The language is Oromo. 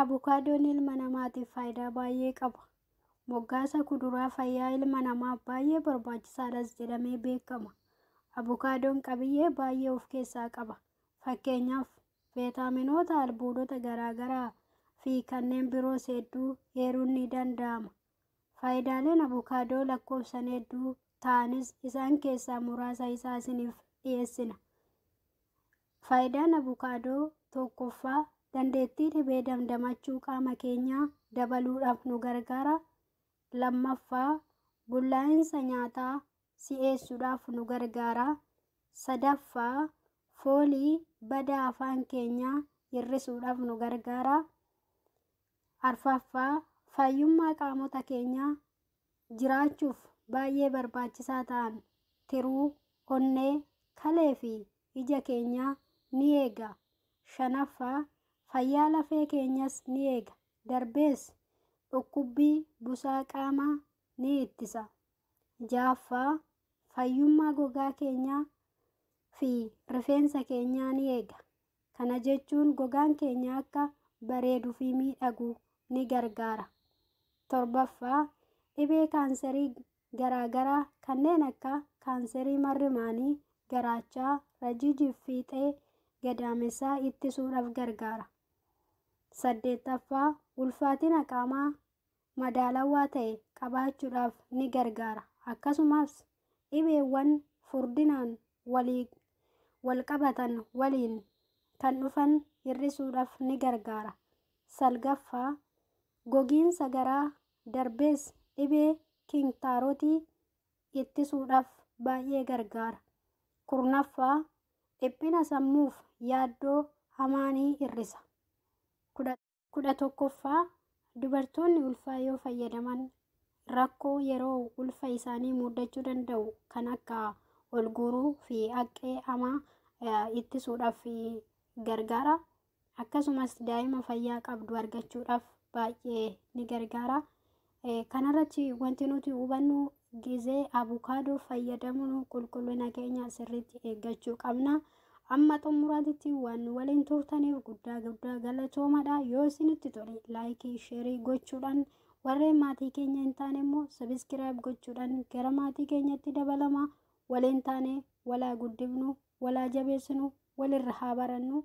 Abukaadoon ilma namaatiif faayidaa baay'ee qaba. Moggaasa kuduraa fayyaa ilma namaaf baay'ee barbaachisaadhas jedhamee beekama. Abukaadoon qabiyyee baay'ee of keessaa qaba. Fakkeenyaaf, veetaaminoota, albuudota garaagaraa fi kanneen biroos hedduu eeruun ni danda'ama. Faayidaaleen Abukaadoo lakkoofsan hedduu ta'anis isaan keessaa muraasa isaa isiniif dhiyeessina. Faayidaan Abukaadoo tokkoffaa dandeettii dhibee damdamachuu qaama keenyaa dabaluudhaaf nu gargaara. Lammaffaa bullaa'insa nyaataa si'eessuudhaaf nu gargaara. Sadaffaa foolii badaa afaan keenyaa hir'isuudhaaf nu gargaara. Arfaffaa, fayyummaa qaamota keenyaa jiraachuuf baay'ee barbaachisaa ta'an, tiruu, onnee, kalee fi ija keenyaa ni eega. Shanaffaa, fayyaa lafee keenyas ni eega, darbees dhukkubbii busaa qaamaa ni ittisa. Ja'affaa, fayyummaa gogaa keenyaa fi rifeensa keenyaa ni eega. Kana jechuun gogaan keenya akka bareedu fi miidhagu ni gargaara. Torbaffaa, dhibee kaanserii garaagaraa kanneen akka kaanserii marrimaanii, garaachaa, rajiijii fi fiixee gadaamessaa ittisuudhaaf gargaara. Saddeettaffaa, ulfaatina qaamaa madaalawaa ta'e qabaachuudhaaf ni gargaara. Akkasumas dhibeewwan furdinaan walii walqabatan waliin kan dhufan hir'isuudhaaf ni gargaara. Salgaffaa, gogiinsa garaa darbees dhibee kinktaarootii ittisuudhaaf baay'ee gargaara. Kurnaffaa, dhiphina sammuuf yaaddoo hamaa ni hir'isa. kudha tokkoffaa Dubartoonni ulfaa yoo fayyadaman rakkoo yeroo ulfa isaanii muudachuu danda'u kan akka ol guuruu fi haqqee hamaa eh, ittisuudhaaf eh, gargaara. Akkasumas daa'ima fayyaa qabdu argachuudhaaf baay'ee ni gargaara. Kanarratti wanti nuti hubannu gizee abukaadoo fayyadamuun qulqullina keenya sirriitti eeggachuu qabna. Amma xumuraatitti waan nu waliin turtaniif guddaa guddaa galatoomadha. Yoo isinitti tole laayikii, sheerii gochuudhaan warreen maatii keenya hin taane immoo sabiskiraayib gochuudhaan gara maatii keenyatti dabalama. Waliin taane walaa guddifnu, walaa jabeessinu, walirra haa barannu.